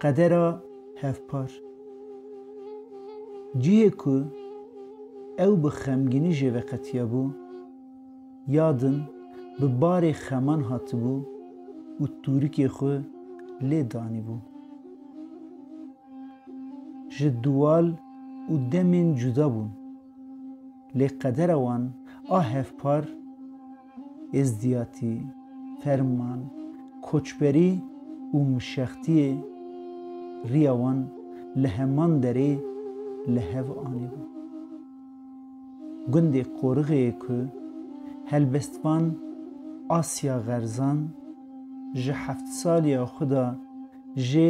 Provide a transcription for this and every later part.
Qedera hevpar. Cihê ku ew bi xemgînî jê ve qetiyabû, ya din bi barê xeman hatibû û tûrikê xwe lê danîbû. Ji duwal û demên cuda bûn, lê qedera wan a hevpar, êzdiyatî, ferman, koçberî û mişextiyê riya wan li heman derê li hev anîbû. Gundê Qorixêyê ku helbestvan Asya Xerzan ji heft saliya xwe de jê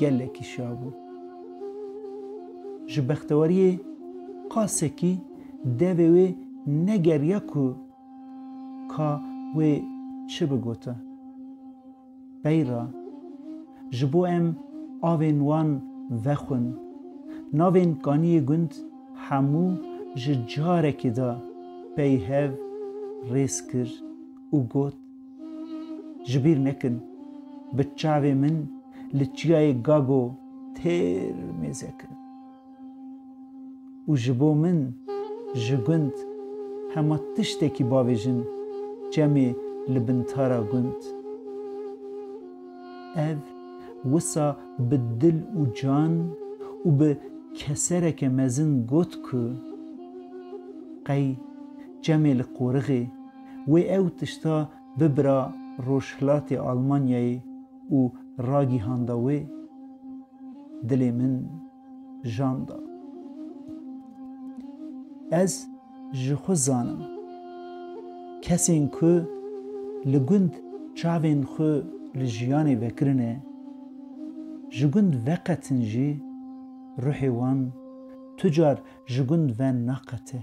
gelekî şiya bû. Ji bextewariyê qasekî devê wê negeriya ku ka wê çi bigota. Beyra ji bo em avên wan vexwin, navên kaniyê gund hemû ji carekê de peyv rêz kir û got, Ji bîr nekin bi çavê min li çiyayê Gago têr mêze kirin û ji bo min ji gund hema tiştekî bavêjin çemê li bin tara gund. Ev wisa bi dil û can û bi kesereke mezin got ku qey çemê li qorixê Wê ew tişta bibira Rojhilatê Almanyayê û ragihanda wê, Dilê min jan da. Ez ji xwe zanim, kesên ku li gund çavên xwe li jiyanê vekirine, ji gund veqetin jî, ruhê wan tu car ji gund ve naqete.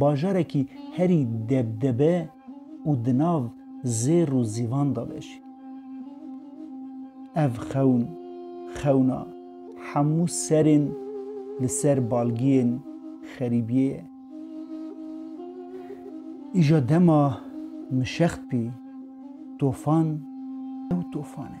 Bajarekî herî debdebe û di nav zêr û zîvan de be jî. Ev xewn, xewna hemû serên li ser balgiyên xerîbiyê ye. Îja dema min şext bî, tofan ew tofan e.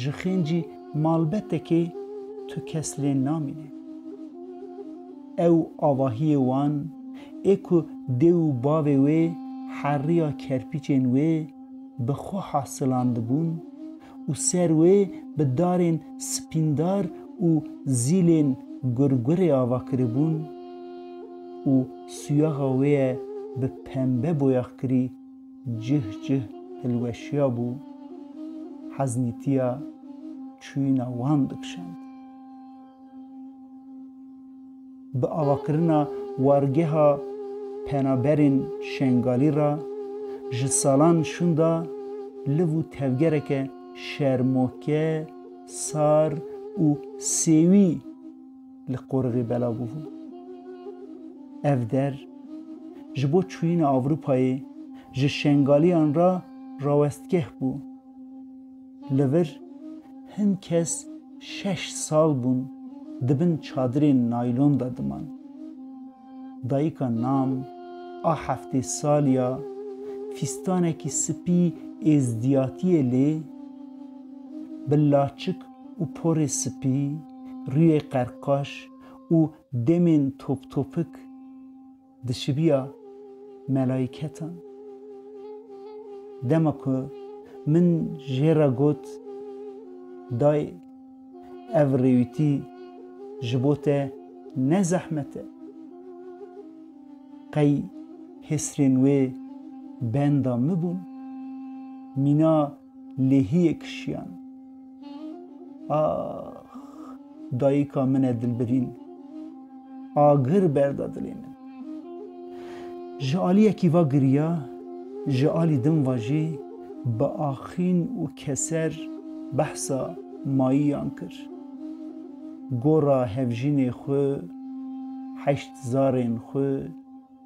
ji xêncî malbetekê tu kes lê namîne. Ew avahiyê wan ê ku dê û bavê wê heriya kerpîçên wê bi xwe hasilandibûn û ser wê bi darên spîndar û zîlên gurgurê ava kiribûn û suyaxa wê ye bi pembe boyaxkirî cih cih hilweşiya bû, heznîtiya çûyîna wan dikişand. Bi avakirina wargeha penaberên Şengalî re ji salan şûnda liv û tevgereke şermoke, sar û sêwî, li qoriqê belav bûbû. Ev der ji bo çûyîna Ewropayê ji Şengaliyan re rawestgeh bû. Li vir hin kes şeş sal bûn di bin çadirên naylon de diman. Dayika Nam a heftê salî ya fîstanekî spî êzdiyatiyê lê bi laçik û porê sipî, rûyê qerqaş û demên toptopik dişibiya melayîketan. Dema ku min jê re got, Dayê, ev rêwîtî ji bo te ne zehmet e. Qey hêsrên wê benda min bûn. Mîna Lêhiyê kişiyan. Ax! Dayika min e dilbirîn. Agir berda dilê min. Ji alî yekî va giriya, ji alî din va jî bi axîn û keser behsa mayiyan kir. Gora hevjînê xwe, heşt zarên xwe.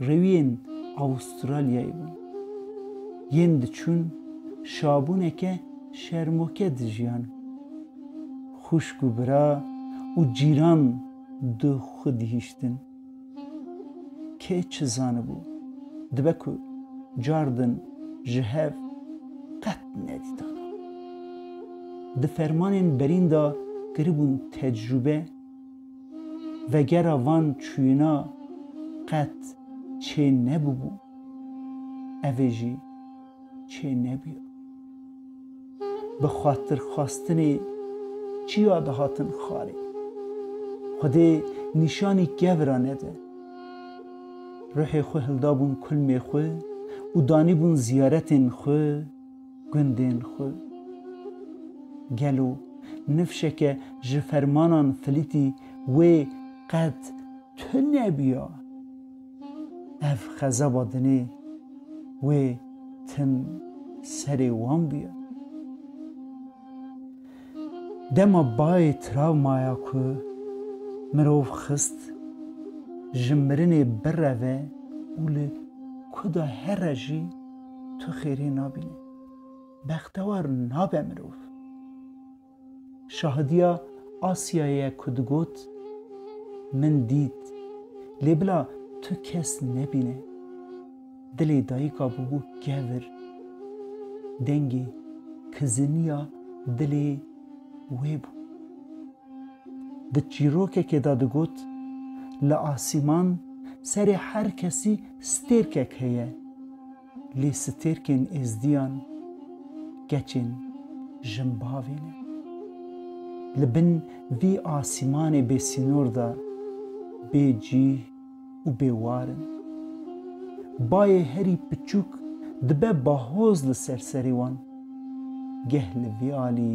rewiyên Awûstralyayê bûn. Yên diçûn şabûneke şermoke dijiyan. Xwişk û bira û cîran di xwe dihiştin. Kê çi zanibû, dibe ku car din ji hev qet nedîtana. Di fermanên berîn de kiribûn tecrûbe. Vegera van çûyina qet çê nebûbû, ev ê jî çê nebîya. Bi xatirxwastinê çiya dihatin xalê. Xwedê nîşanî kev ra nede. Ruhê xwe hildabûn kulmê xwe û danîbûn ziyaretên xwe. gundên xwe. Gelo nifşeke ji fermanan flîtî wê qet tune bûya? Ev xezaba dinê wê tim serê wan bûya. Dema bayê travmaya ku mirov xist ji mirinê bireve û li ku de here jî, Tu xêrê nabînî. Bextewar nabe mirov. Şahidiya Asya ye ku digot, Min dît, lê bila tu kes nebîne. Dilê dayika bûbû kevir. Dengê kiziniya dilê wê bû. Di çîrokekê de digot, Li asîman serê her kesî stêrkek heye, lê stêrkên êzdiyan keçên jin bavê ne. Li bin vî asîmanê bêsînor de bê cîh û bê war in. Bayê herî piçûk dibe bahoz li ser serê wan. Geh li vî alî.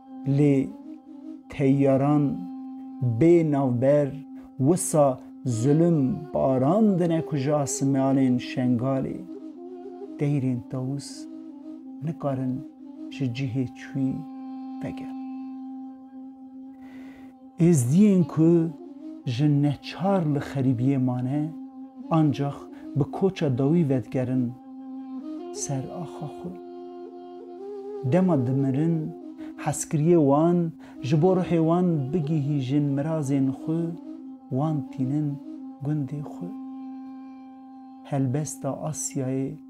Lê teyyaran bê navber wisa zilim barandine ku ji asimanên Şengalê deyrên Tawûs nikarin ji cihê çûyî vegerin. Êzdiyên ku ji neçar li xerîbiyê mane ancax bi koça dawî vedigerin ser axa xwe. Dema dimirin hezkiriyê wan ji bo ruhê wan bigihîjin mirazên xwe wan tînin gundê xwe. Helbesta Asyayê.